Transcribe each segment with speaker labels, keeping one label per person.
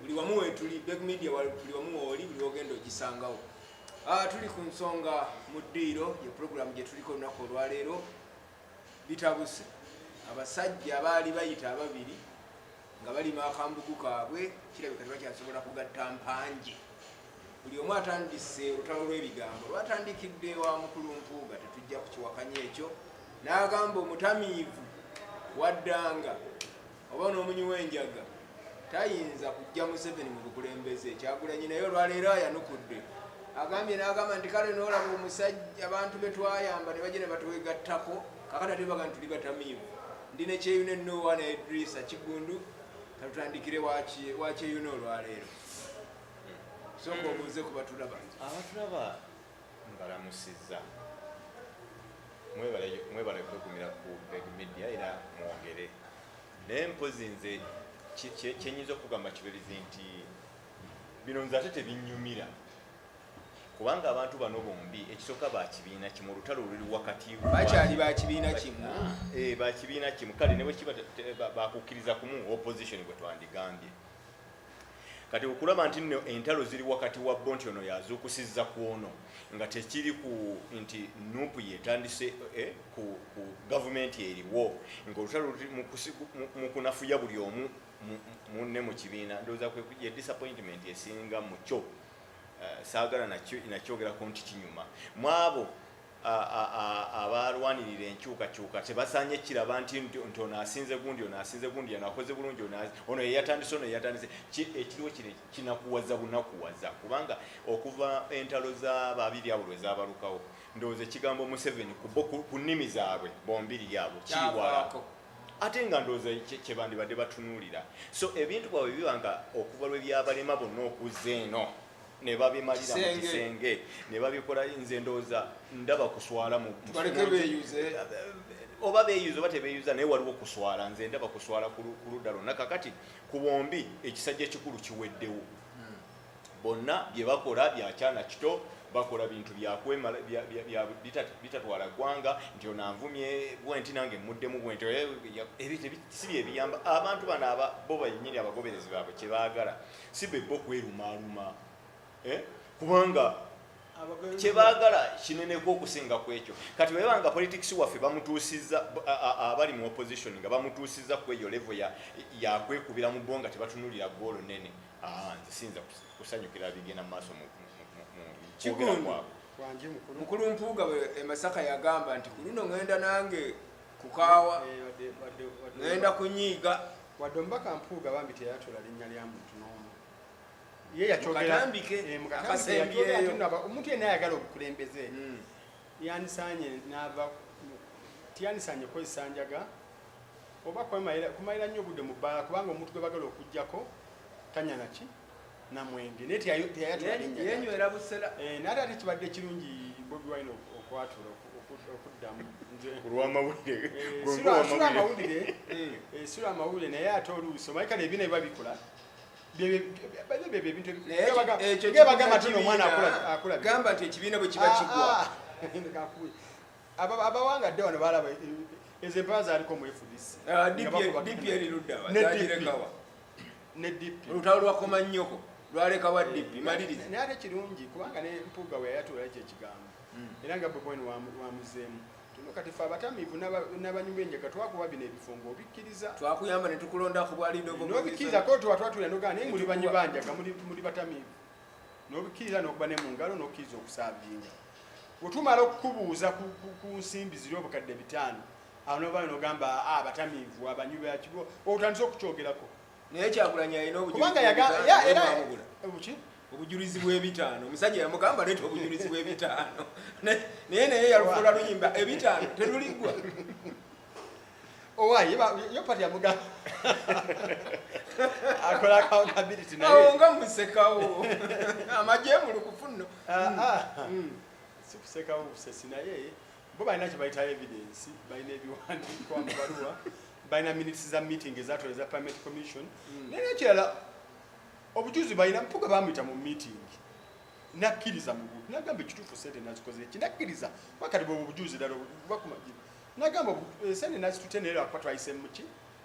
Speaker 1: buli wamu wetuli beg media buli wamu wooli buli wogenda ogisangawo ah, tuli ku nsonga mu ddiiro ye puroguramu gye tuliko olunaku olwaleero bitabuse abasajja baali bayita ababiri nga balima akambugu kaabwe kirabika tebakyasobola kugatta mpanje buli omu atandise olutalo lw'ebigambo lwatandikidde wa mukulu mpuuga tetujja kukiwakanya ekyo n'agamba omutamiivu waddanga oba n'omunyi w'enjaga tayinza kujja museveni mu bukulembeze kyagulanyi naye olwaleero ayanukudde agambye n'agamba nti kale noolaba omusajja abantu be twayamba ne bajja ne batwegattako kakata tebaga nti tuli batamiivu ndi ne kyeyuna ennoowa ne edrisa kigundu katutandikire wakyeyuna olwaleero sooka obuuze ku batulaba abatulaba
Speaker 2: Mbalamusizza. Mwebale mwebale kwegumira ku Beg Media era mwogere. Naye mpozi nze kyenyiza okugamba kibirizi nti bino nze ate tebinnyumira kubanga abantu bano bombi ekisooka bakibiina kimu olutalo luli wakati bakyali bakibiina
Speaker 1: kimu eh, bakibiina
Speaker 2: kimu kale ne bwekiba bakukkiriza kumu opposition gwe twandigambye kati okulaba nti nno entalo ziri wakati wa bo nti ono yazuukusiza ku ono nga tekiri ku nti nup yetandise eh, ku, ku gavumenti eriwo ngaolutalo mu kunafuya buli omu munne mu kibiina ndowooza ye disappointment esinga mukyo eh, saagala nakyogerako nti kinyuma mwabo abalwanirira enkyukakyuka tebasaanye kiraba nti nti ono asinze gundi ono asinze gundi ono akoze bulungi ono yeyatandise ono yeyatandise ekiriwo kino kinakuwaza bunakuwaza kubanga okuva entalo za babiri abo lwe zabalukawo ndowooza ekigambo museveni ku nnimi zaabwe bombiri yaabo kiriwala ate nga ndowooza kyebandibadde batunuulira so ebintu bwabwe biba nga okuva lwe byabalema bonna okuzza eno ne babimalira mu kisenge ne babikola nze ndowooza ndaba kuswala mu oba beyuza oba tebeyuza naye waliwo kuswala nze ndaba kuswala ku ludda lwonna kakati ku bombi ekisajja ekikulu kiweddewo hmm. bonna bye bakola byakyana kito bakola bintu byakwemala bitatwala ggwanga nti ono anvumye bwenti nange muddemu bwenti eh, si byebiyamba abantu bano bo benyini abagoberezi baabwe kyebaagala si bebbo kwerumaaluma eh? kubanga kyebagala kineneko okusinga ku ekyo kati weba nga politics waffe bamutuusiza abali mu opposition nga bamutuusiza ku eyo levo yakwekubira mu bo nga tebatunulira goolo nene nze siyinza kusanyukira bigenda mu maaso mu kwogera kwabwe mukulu mpuuga
Speaker 1: emasaka yagamba nti kuluno ngenda nange kukaawa ŋenda kunyiiga wadde omubaka
Speaker 3: mpuuga bambi teyatula linnya lya muntu n'omu ye yakyogeraomuntu eh, yenna ayagala obukulembeze hmm. yandisanye nava tiyandisanye kukozesa njaga oba kumalira nnyo obudde mu bbaala kubanga omuntu gwe bagala okugjako tanya naki namwenge naye teyayatulayenywera busera eh,
Speaker 1: naye ate kibadde
Speaker 3: kirungi bobi wine okwatula okuddamu kulwamawulire eh, eh, sula amawulire naye ate oluusi omaika nebina biba bikola
Speaker 1: gamba nti ekibiina bwe kiba ah, kigwa ah.
Speaker 3: abawanga dde wano balaba ezo empaa zaliko mu fdc ah, dpr
Speaker 1: luddawa ne DP olutalo lwa koma nyoko lwaleka wa DP eh, maliriza naye ate kirungi kubanga
Speaker 3: ne mpuga we yayatula ekyo ekigambo hmm. era nga bwe bwenu wamuzeemu tuno kati fe abatamiivu n'abanyumu enjaga twakuba bino ebifungo obikkiriza twakuyamba ne tukulonda
Speaker 1: ku bwalidoobikiriza ko tuba
Speaker 3: twatulira nogaa naye muli banyu banjaga muli batamiivu n'obikkiriza n'okuba ne mu ngalo n'okkiriza okusaabiinga wetumala okukubuuza ku nsimbi ziri obukadde bitaano awo nova nogamba ah, abatamiivu abanywi bakigo otandise okukyogerako naye kyakulanya
Speaker 1: alina obukubanga era obuki obujulizi bwebitaano omusajja yamugamba leeta obujulizi bwebitaano naye naye yalufuula luyimba ebitaano teluliggwa
Speaker 3: owaye yo pati yamuga akola accountability naye awo nga musekawo
Speaker 1: amajemulu kufunno
Speaker 3: ah, ah.
Speaker 1: mm.
Speaker 3: sikusekawo
Speaker 1: busesi
Speaker 3: naye bo balina kyebayita evidence balina ebiwandiikwa mu baluwa balina minutes za meeting ezatula eza parliament commission hmm. naye nekirala obujuzi balina mpuga bamuyita mu meeting nakkiriza mu buntu nagamba ekituufu sente nazikoze eki nakkiriza wakati bwe obujuzi dala bakuma nagamba eh, sente nazitute naye lwakuba twayise muki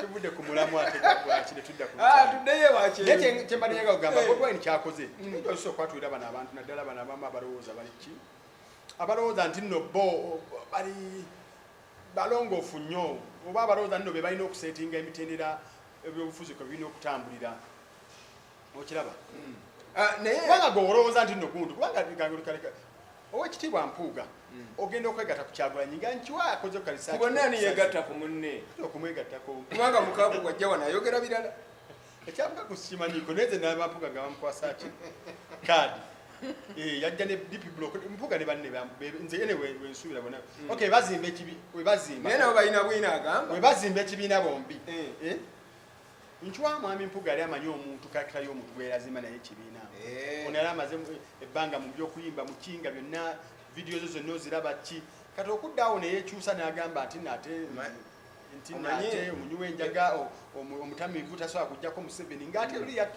Speaker 3: tuvude ku mulamu ate gwaki netudda tuddeyo ewakinaye
Speaker 1: kyembadde nyaga kugamba eh.
Speaker 3: bobwine kyakoze mm. osobola okwatulira bano abantu naddala bano abamu abalowooza bali ki abalowooza nti nno bo bali balongoofu nnyo oba abalowooza nno be balina okuseetinga emitendera ebyobufuzi kwe birina okutambulira okiraba hmm. ah, nayekubanga gwe olowooza nti nogundu kubanga gangulikaleka owekitiibwa mpuuga hmm. ogenda okwegata ku kyagulanyi nga nkiwa akoze okukalisakubanani yegatta ku
Speaker 1: munne okumwegattako
Speaker 3: kubanga mukaku
Speaker 1: wajja wano ayogera birala ekyabuka
Speaker 3: kusimanyiko naye zenabampuga nga bamukwasaki kaadi eh, yajja ne dp blok mpuga ne banne nze ene wensuubira bona hmm. ok bazimba ekibi webazimba naye nabo balina bwina
Speaker 1: agamba webazimba ekibiina
Speaker 3: bombi eh. Eh? Nchwa mwami mpuga yali amanyi omuntu karakita y'omuntu gweyazimba naye ekibiina eh. ono yali amaze ebbanga mu byokuyimba mukinga byonna vidiyo zo zonna oziraba ki kati okuddaawo neyekyusa n'agamba nti nate nti nate omunywi w'enjaga omutamiivu tasobola kujjako museveni ng'ate luli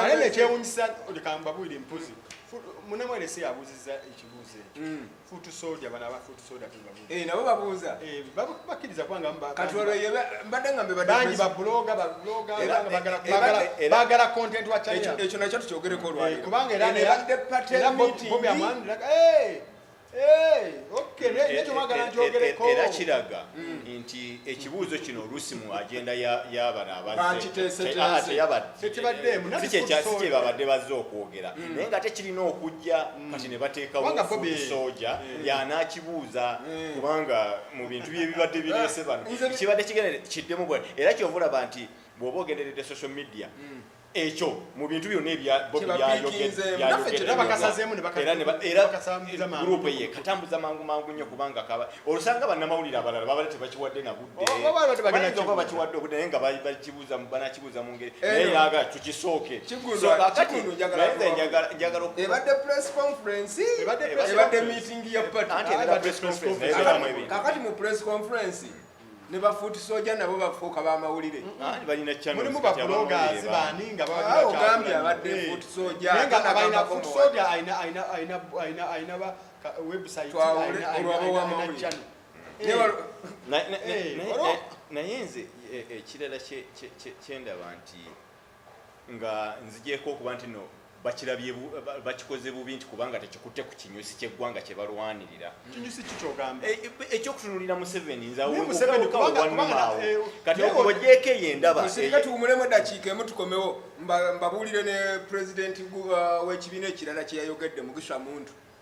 Speaker 1: ate nekyewunyisa
Speaker 3: kambabuire mpozi munamwerese yabuuziza ekibuuzo ekyo mm. futu soja bana aba futu soja eh, nabo babuuza eh,
Speaker 1: bakkiriza
Speaker 3: kubanga
Speaker 1: mbadde nga mbebangi babuloga
Speaker 3: bagala content wa ekyo nakyo tukyogereko
Speaker 1: olwakubanga
Speaker 3: era
Speaker 2: era kiraga nti ekibuuzo kino oluusi mu agenda yabano abazzeekyebabadde bazze okwogera mm. naye nga ate kirina okujja mm. kati ne bateekawosoja mm. yanaakibuuza kubanga mu bintu byebibadde bireese bano kibadde kigenda kiddemu bwa era kyovulaba nti bw'oba ogenderedde social media ekyo mu bintu byonna ebya Bobi byayogeddeyayogedderuupu eye katambuza mangu mangu nnyo kubanga kaba olusanga bannamawulire abalala babale tebakiwadde na buddebayinza oh, bakiwadde obudde naye nga bakibuuza banakibuuza mu ngeri eh, naye yaga tukisooke
Speaker 1: kakati mu press conference ne bafuuti soja nabo bafuuka ba mawulire mulimu
Speaker 3: babulogazi bani nga baogambye abadde
Speaker 1: eh. fuuti
Speaker 3: soja
Speaker 2: naye nze ekirala kyendaba nti nga nzigyeko okuba nti no bakirabye bakikoze bubi nti kubanga tekikutte ku kinyusi ky'eggwanga kye balwanirira e,
Speaker 3: e, ekyokutunulira
Speaker 2: museveni nzawekawannumaawo eh, kati okubogyeko eyo endabatuwumulemu eh, eddakiika
Speaker 1: emu tukomewo mbabuulire ne pulezidenti uh, w'ekibiina ekirala kyeyayogedde mugisha muntu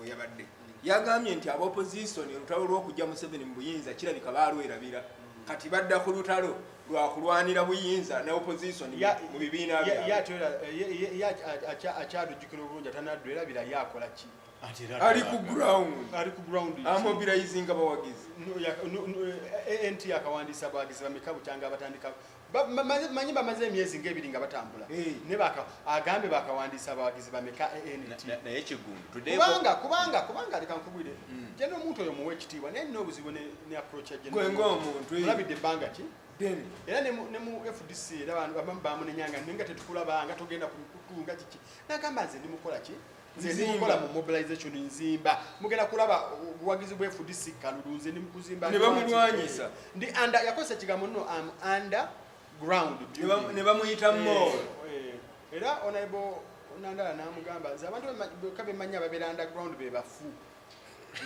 Speaker 1: weyabadde yagambye nti aba opposition olutalo lwokujja museveni mu buyinza kirabika baalwerabira kati badda ku lutalo lwakulwanira buyinza ne opposition mu bibiina
Speaker 3: akyalujjukira obulungi atanaddu erabira yakola ki
Speaker 1: ali ku ground amobilizing abawagizi
Speaker 3: ent yakawandiisa abawagizi bameka bukyanga abatandika manyi bamaze emyezi ngaebiri nga batambula eh. agambye bakawandiisa abawagizi bameka antkubanga
Speaker 2: kubanga kubanga
Speaker 3: leka nkubwire hmm. jena omuntu oyo muwa ekitiibwa naye nina obuzibu ne approach olabidde
Speaker 1: ebbanga ki
Speaker 3: era ne mu fdc era bamunenyanga naye nga tetukulaba nga togenda ku mikutu nga kiki nagamba nze ndimukola ki nze ndi mukola mu mobilization nzimba mugenda kulaba obuwagizi bwe fdc kalulu nze ndi mukuzimba ne bamulwanyisa
Speaker 1: ndi under yakozesa
Speaker 3: ekigambo nno am under ground ne bamuyita
Speaker 1: eh, mo eh. era
Speaker 3: onaibo nandala namugamba nze abantu beka bemanyi ababeera under ground be bafu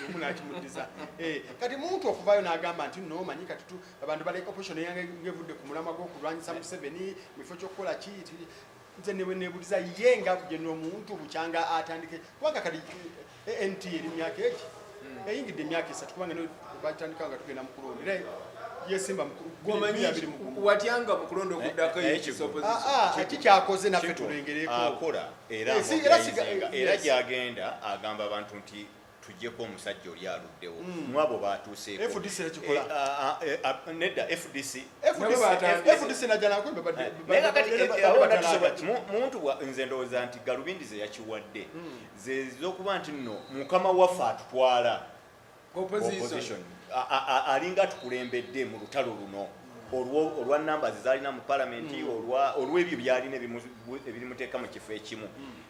Speaker 3: omu nakimudiza eh, kati muntu okuvayo nagamba nti no manyi kati abantu baleka opposition eyange ngevudde ku mulamwa gwokulwanyisa museveni mukifo kyokukola ki nze ne bwenebuliza ye nga kugenda omuntu bukyanga atandike kubanga kali eh, eh, nt eri myaka eki hmm. eyingidde emyaka esatu kubanga batandika nga tugenda mukulonda era yesimba mukulondawatyanga
Speaker 1: mukulonda okuddako
Speaker 3: ekikyakoze ah, ah, naffe tulengerekoera
Speaker 2: ah, gyagenda agamba abantu nti tujeko omusajja oli aluddewo mm. mwabo batuusekonedda fdcmuntu nze ndowooza nti galubindi ze yakiwadde mm. zezokuba nti no mukama waffe atutwala alinga tukulembedde mu lutalo luno olwa namba zezalina mu palamenti mm. olwebyo byalina ebirimuteeka mu kifo ekimu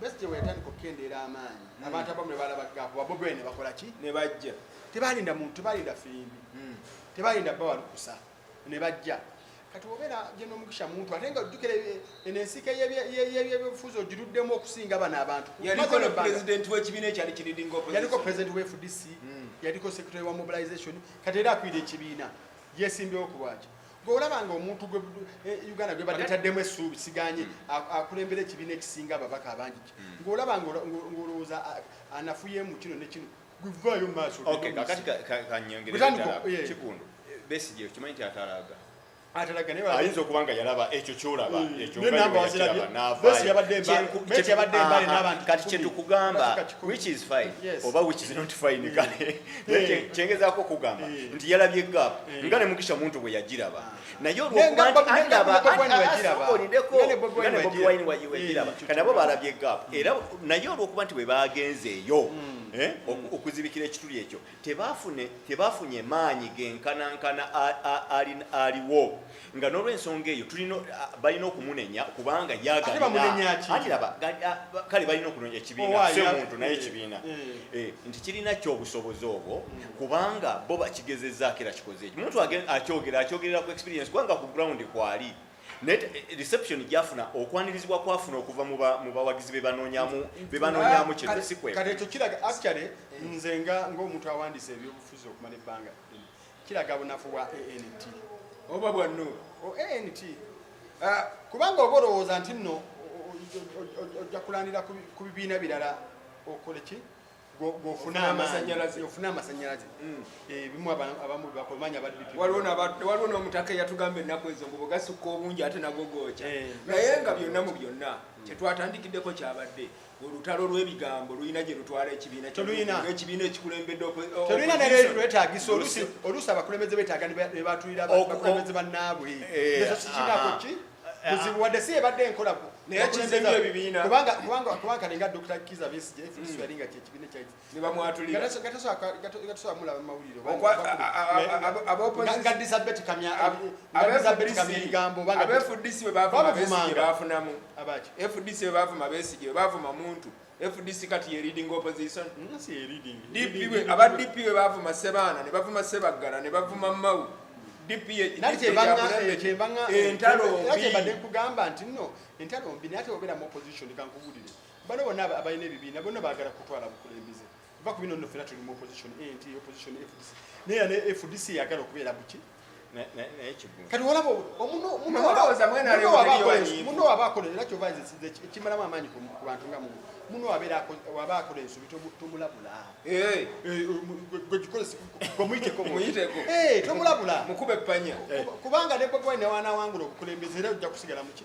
Speaker 3: Besigye bwe yatandika okukendeera amaanyi hmm. abantu abamu ne balaba gaapu babobi wine ne bakola ki ne bajja
Speaker 1: tebaalinda muntu
Speaker 3: tebaalinda firimbi hmm. tebaalinda bba walukusa ne bajja kati obeera gye n'omugisha muntu ate nga ojjukira eno ensiike y'ebyobufuzi ogiruddemu okusinga bano abantu yaliko pulezidenti
Speaker 1: w'ekibiina ekyali kiridinga yaliko pulezidenti wa fdc
Speaker 3: hmm. yaliko secretary wa mobilization kati era akwira ekibiina yesimbyewo ku lwaki olaba nga omuntu gwe eh, uganda gwe badetaddemu essuubi siganye hmm. akulembera ekibiina ekisinga ababaka abangi hmm. ngaolaba ngaolowooza anafuyemu kino nekino gwevayo maaso
Speaker 2: kikundu besigi okimanyi nti atalaaga ayinza okuba nga yalaba ekyo kyolaba hmm. ekyoyabadde mbale n'abantu kati kyetukugamba which is fine oba which is not fine kale Eh. kyengezaako okugamba eh. nti yalabye gaapu eh. nga ne mugisha muntu bwe yagiraba naye olwokubaolidekowayiniwagiraba kanabo balabye gaapu mm. era naye olwokuba nti bwe bagenzeeyo mm. mm. okuzibikira ekituli ekyo tebafunye maanyi genkanankana aliwo nga nolwensonga eyo tulina balina okumunenya kubanga yagalinakale balina okunenya ekibiina si omuntu naye ekibiina eh, eh. eh, nti kirina kyobusobozi obwo hmm. kubanga bo bakigezezaako era kikoze ekyo omuntu akyogera akyogerera ku experience kubanga ku ground kwali naye eh, reception gyafuna okwanirizibwa kwafuna okuva mu bawagizi bebanonyamu bebanonyamu kintu sikwekati ekyo kiraga actually
Speaker 3: nze nga ngaomuntu awandiisa ebyobufuzi okumala ebbanga kiraga bunafu bwa ant oba bwa
Speaker 1: nup ant
Speaker 3: ah, kubanga oba olowooza nti nno ojja kulandira ku bibiina birala okole ki gofuna amasanyalaze ofuna amasanyalaze mm. eh, bimu abamu bakomanya baddipi waliwo
Speaker 1: n'omutaka eyatugamba ennaku ezo mbu bwegasukka obungi ate nagogooca eh. naye nga byonna mu byonna mm. kyetwatandikiddeko kyabadde olutalo lwebigambo lulina gyerutwala ekibiina ekibiina ekikulembeddetulina
Speaker 3: nerwetagisa oluusi abakulembeze betaaga nebatulira abakulembeze bannaabwe eh, ekyo kikinako ki buzibu wadde si ebadde enkola naye kibiina
Speaker 1: kubanga kalinga
Speaker 3: dr kiza besije mm. yali nga kyekibiina kyaki
Speaker 1: bebavuma besige bebavuma muntu fdc kati yeridinga opposition aba dp we bavuma sebaana nebavuma sebaggala nebavuma mawu
Speaker 3: dpentalo mbi nate oberamu opposition kankubulire bano bonna abalina ebibiina bonna bagala kutwala bukulembeze va ku bino nno fena tuli mu opposition ant opposition fdc naye era ne fdc yagala okubeera buki kati olaba muno waba akola era kyova nze sinze ekimalamu amaanyi ku bantu nga muno muno waba akola ensobi tomulabula eh. eh, eh, tomulabula
Speaker 1: kubanga ne bobi
Speaker 3: wine newanawangula okukulembeza era ojja kusigala muki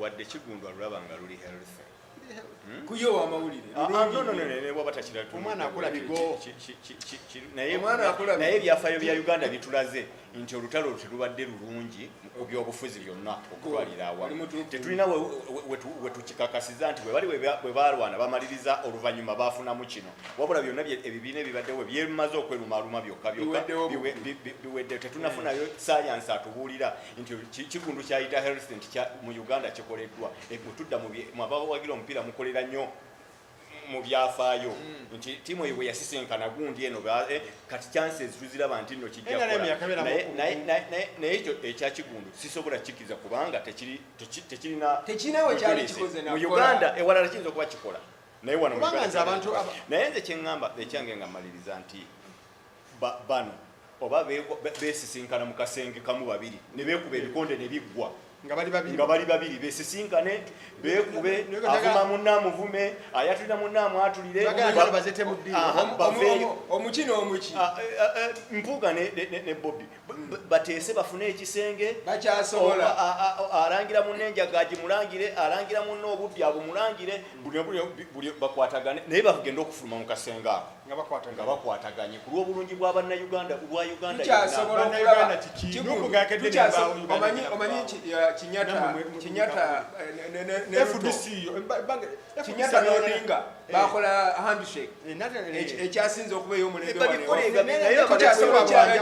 Speaker 2: wadde kigundwa lulaba nga luli healthy hmm? kuyo
Speaker 1: wamawulire ah,
Speaker 3: ah,
Speaker 2: naye ebyafayo bya uganda bitulaze nti olutalo terubadde lulungi mu byobufuzi byonna okutwalira awamu tetulina wetukikakasiza nti webali webalwana bamaliriza oluvannyuma bafunamu kino wabula byonna ebibiina ebibaddewo byemaze okwerumaaluma byokka byokka biwedde tetunafunayo sayansi atubuulira nti kikundu kyayita health nti mu uganda kikoleddwa ekutudda mwabawagira omupiira mukolera nnyo mu byafaayo hmm. nti tiimu eyo bwe yasisinkana gundi eno eh, kati chances tuziraba nti nno kijjakonaye ekyo ekyakigundu sisobola kikiriza kubanga tekirinamu
Speaker 1: uganda ewalala
Speaker 2: kiyinza okuba kikola naye wano naye nze kyeŋŋamba ekyange nga mmaliriza nti ba, bano oba besisinkana mu kasenge kamu babiri ne beekuba ebikonde ne biggwa nga bali babiri besisinkane beekube avuma munne amuvume ayatulira munne amwatulire
Speaker 1: omuki n'omuki ah, eh, eh, eh, mpuuga
Speaker 2: ne bobi bateese bafune ekisenge bakyasobola
Speaker 1: alangira
Speaker 2: munne enjaga agimulangire alangira munne obubbi abumulangire bakwatagane naye bagenda okufuluma mu kasenge ako nga bakwataganye ku lw'obulungi bwa bannayuganda bwa Uganda
Speaker 1: yonaakinyatanoninga bakola handshake ekyasinze okuba ey'omulembetukyasobola okiraba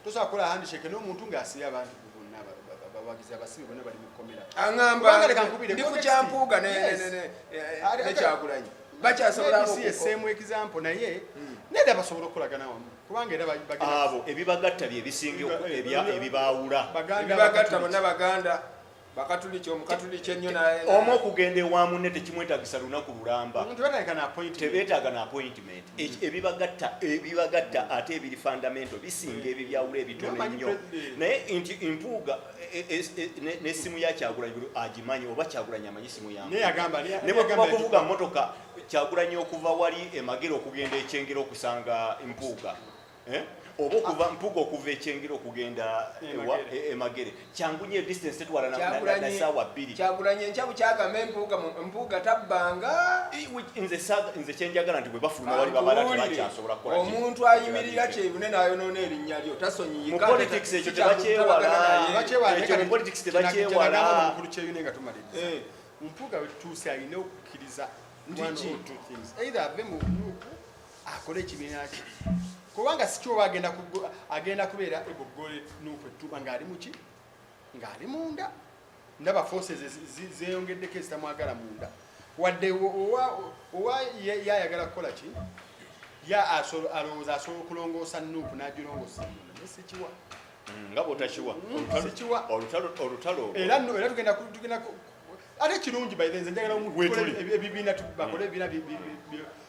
Speaker 3: tusobola kukola handshake n'omuntu ng'asiya abantu aŋamba
Speaker 1: ndi ku kyampuuga nekyagulanyi bakyasobola example
Speaker 3: naye hmm. neda basobola okukolagana wamu kubanga era abo ebibagatta
Speaker 2: bye bisinga ebibaawula ebibagatta
Speaker 1: bonna baganda bakatuliki omukatuliki ennyo naye omu okugenda ewa
Speaker 2: munne tekimwetagisa lunaku lulamba tebeetaaga na appointment ebibagatta ebibagatta ate ebiri fundamento bisinga ebibyawula ebitono ennyo naye nti mpuuga e, e, e, nesimu ya kyagulanyi agimanyi oba kyagulanyi amanyi simu yanebwekuba kuvuga motoka kyagulanyi okuva wali emagere okugenda ekyengera okusanga mpuuga eh? oba okuva ah. mpuga okuva ekyengera okugenda emagere e, e kyangu nyo edistance tetwala nasaawa bbiri kyagulanye enkya bukyagamba
Speaker 1: empuga mpuga tabbanga
Speaker 2: nze kyenjagala nti bwebafuluma wali bamala tebakyasobola kukola omuntu ayimirira
Speaker 1: kyebune nayonoona erinnya lyo tasonyiyikapolitics ekyo
Speaker 2: tebakyewalapolitics tebakyewala eh.
Speaker 3: mpuga wetutuuse alina okukkiriza either ave mu nuupu akole ekibiina kye kubanga sikyoba agenda agenda kubeera egoggole nuuku ettuba ng'ali muki ng'ali munda ndaba forces zeeyongeddeko ezitamwagala munda wadde owa yayagala kukola ki ya alowooza asobola okulongoosa nuuku n'agirongoosa munda naye sikiwa mm, nga
Speaker 2: bwotakiwa mm, sikiwa olutalo era era
Speaker 3: tugenda tugenda ate kirungi baithe nze njagala ebibiina bakole ebibiina